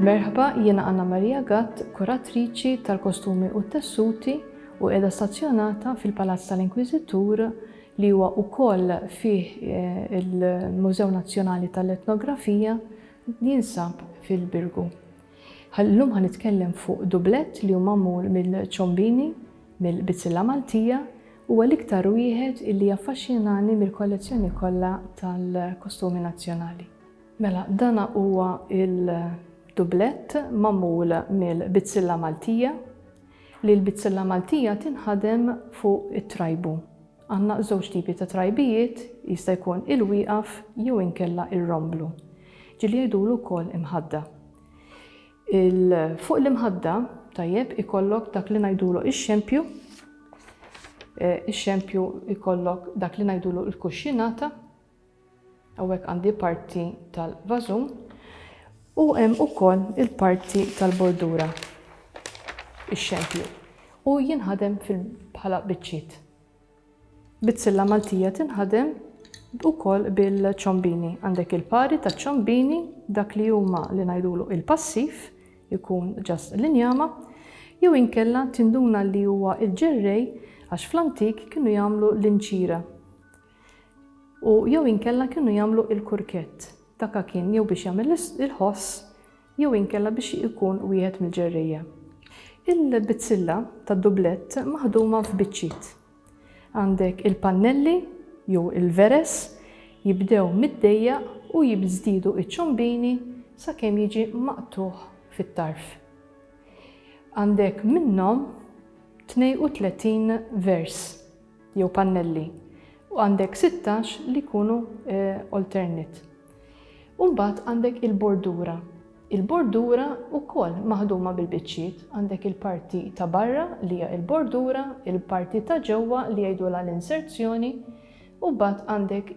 Merħba, jiena Anna Maria Gatt, kuratriċi tal-kostumi u t-tessuti u qiegħda stazzjonata fil-Palazz tal-Inkwiżitur li huwa wkoll fih eh, il-Mużew Nazzjonali tal-Etnografija jinsab fil-Birgu. Illum ħa nitkellem fuq dublett li hu magħmul mill-ċombini mill-bizzilla Maltija, huwa l-iktar wieħed illi jaffaxxinani mill-kollezzjoni kollha tal-kostumi nazzjonali. Mela dana huwa l-dublett magħmul mill-bizzilla Maltija, li l-bizzilla Maltija tinħadem fuq it-trajbu. Għandna żewġ tipi ta' trajbijiet, jista' jkun il-wieqaf jew inkella ir-romblu. Ġieli jgħidulu wkoll imħadda. Il, fuq l-imħadda, tajjeb, ikollok dak li ngħidulu ix-xempju, eh, ix-xempju ikollok dak li ngħidulu l-kuxxinata, Hawnhekk għandi parti tal-vażun u hemm ukoll il-parti tal-bordura, ix-xempju, u jinħadem bħala biċċiet. Bizzilla Maltija tinħadem ukoll bil-ċombini. Għandek il-pari taċ-ċombini, dak li huma li ngħidulu il-passiv, ikun ġast l-injama, jew inkella tinduna li huwa l-ġerrej għax fl-antik kienu jagħmlu l-inċira. u jew inkella kienu jagħmlu il-kurkett ta' kakin jew biex jagħmel il-ħoss jew inkella biex ikun wieħed mill-ġerrejja. Il-bizzilla tad-dublett maħduma f'biċċiet. Għandek il-pannelli jew il-veres jibdew mid-dejjaq u jibżdiedu iċ-ċombini sakemm jiġi maqtugħ fit-tarf. Għandek minnhom 32 vers. jew pannelli u għandek 16 li jkunu alternate. U mbagħad għandek il-bordura. Il-bordura wkoll maħduma bil-biċċiet, għandek il-parti ta' barra li hija l-bordura, il-parti ta' ġewwa li jgħidulha l-inserzjoni, u mbagħad għandek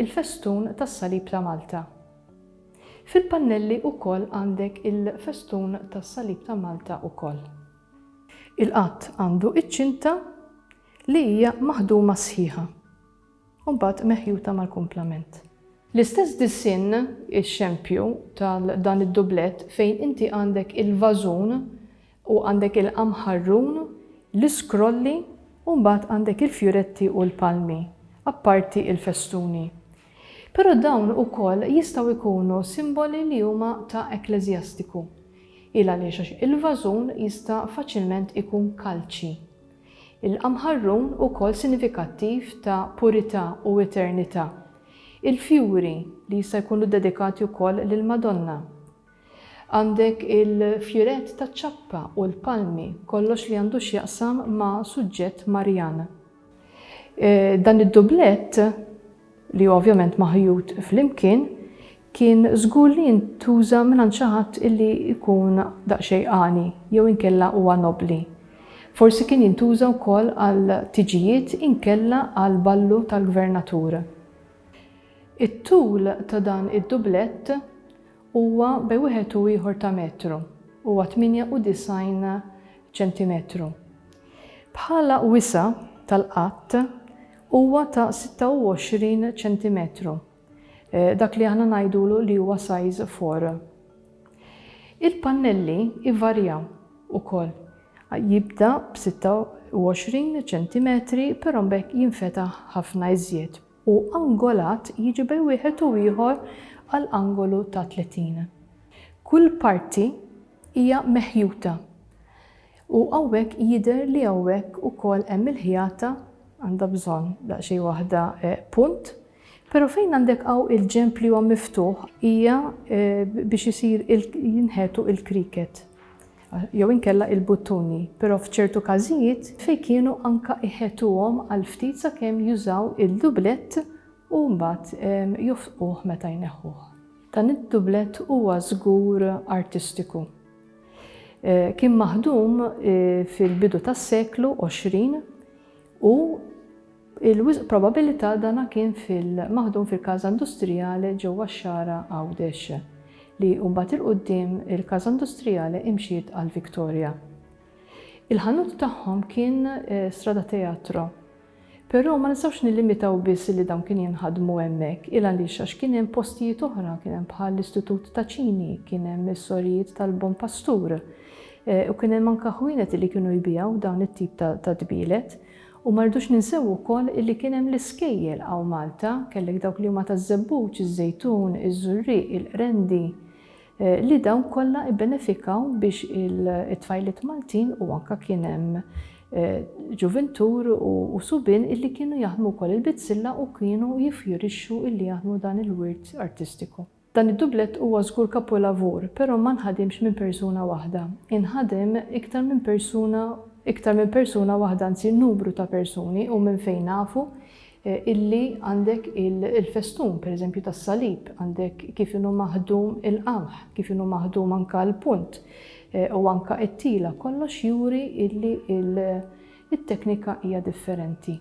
il-festun tas-Salib ta' Malta. Fil-pannelli wkoll għandek il-festun tas-Salib ta' Malta wkoll. Il-qatt għandu iċ-ċinta li hija maħduma sħiħa u mbagħad meħjuta mal-kumplament. L-istess disinn, ix-xempju, ta' dan id-dublett fejn inti għandek il-vażun u għandek il-qamħarrun, l-iskrolli u mbagħad għandek il-fjuretti u l-palmi, apparti l-festuni. Però dawn ukoll jistgħu jkunu simboli li huma ta' ekkleżjastiku. Il għaliex għax il-vażun jista' faċilment ikun kalċi. Il-qamħarrun ukoll sinifikattiv ta' purità u eternità. Il-fjuri li jista' jkunu ddedikati wkoll lill-Madonna. Għandek il-fjurett taċ-ċappa u l-palmi, kollox li għandu x'jaqsam ma' suġġett Marjan. Dan id-dublett, li hu ovvjament maħjut flimkien, kien żgur li jintuża mingħand xi ħadd li jkun daqsxejn għani jew inkella huwa nobbli. Forsi kien jintuża wkoll għal tiġijiet inkella għal ballu tal-gvernatur. It-tul ta' dan id-dublett Huwa bej wieħed u ieħor ta' metru, huwa 98 ċentimetru. Bħala wisa' tal-qadd huwa ta' 26 ċentimetru, dak li aħna ngħidulu li huwa size four. Il-pannelli jvarjaw ukoll, jibda b' 26 ċentimetri però mbagħad jinfetaħ ħafna iżjed. u angolat jiġi bej wieħed u ieħor għal angolu ta' 30. Kull parti hija meħjuta u hawnhekk jidher li hawnhekk ukoll hemm il-ħjata għandha bżonn daqsxejn waħda punt, pero' fejn għandek hawn il-ġenb li huwa miftuħ hija biex isir jinħetu il-cricket. jew inkella il-buttuni, però f'ċertu każijiet fejn kienu anka iħetuhom għal ftit sakemm jużaw il-dublett u mbagħad jofqquh meta jneħħuh. Dan id-dublett huwa żgur artistiku. Kien maħdum fil-bidu tas-seklu 20 u Il-wisq probabilità dan kien fil-maħdum fil-Casa Industriale ġewwa x-Xagħra Għawdex, li mbagħad 'il quddiem il-Casa Industriale imxiet għal Victoria. Il-ħanut tagħhom kien Strada Teatro. Però ma nistgħux nillimitaw biss li dawn kienu jinħadmu hemmhekk, il għaliex għax kien hemm postijiet oħra, kien hemm bħal l-Istitut ta' Cini, kien hemm is-sorijiet tal-Bon Pastur, u kien hemm anke ħwienet li kienu jbigħu dawn it-tip ta' tbielet. U ma rridux ninsew ukoll illi kien hemm l-iskejjel hawn Malta, kellek dawk li huma taż-żebbuġ, iż-żejtun, iż-żurrieq, il-qrendi, li dawn kollha ibbenefikaw biex it-tfajliet Maltin u anke kien hemm ġuvintur u subien illi kienu jaħdmu wkoll il-bizzilla u kienu jiffjurixxu illi jaħdmu dan il-wirt artistiku. Dan id-dublett huwa żgur kapolavur, però ma nħadimx minn persuna waħda. Inħadem iktar minn persuna iktar minn persuna waħda anzi numru ta' persuni u minn fejn nafu illi għandek il-festun pereżempju tas-salib, għandek kif inhu maħdum il-qamħ, kif inhu maħdum anke l-punt u anke t-tila, kollox juri illi it-teknika hija differenti.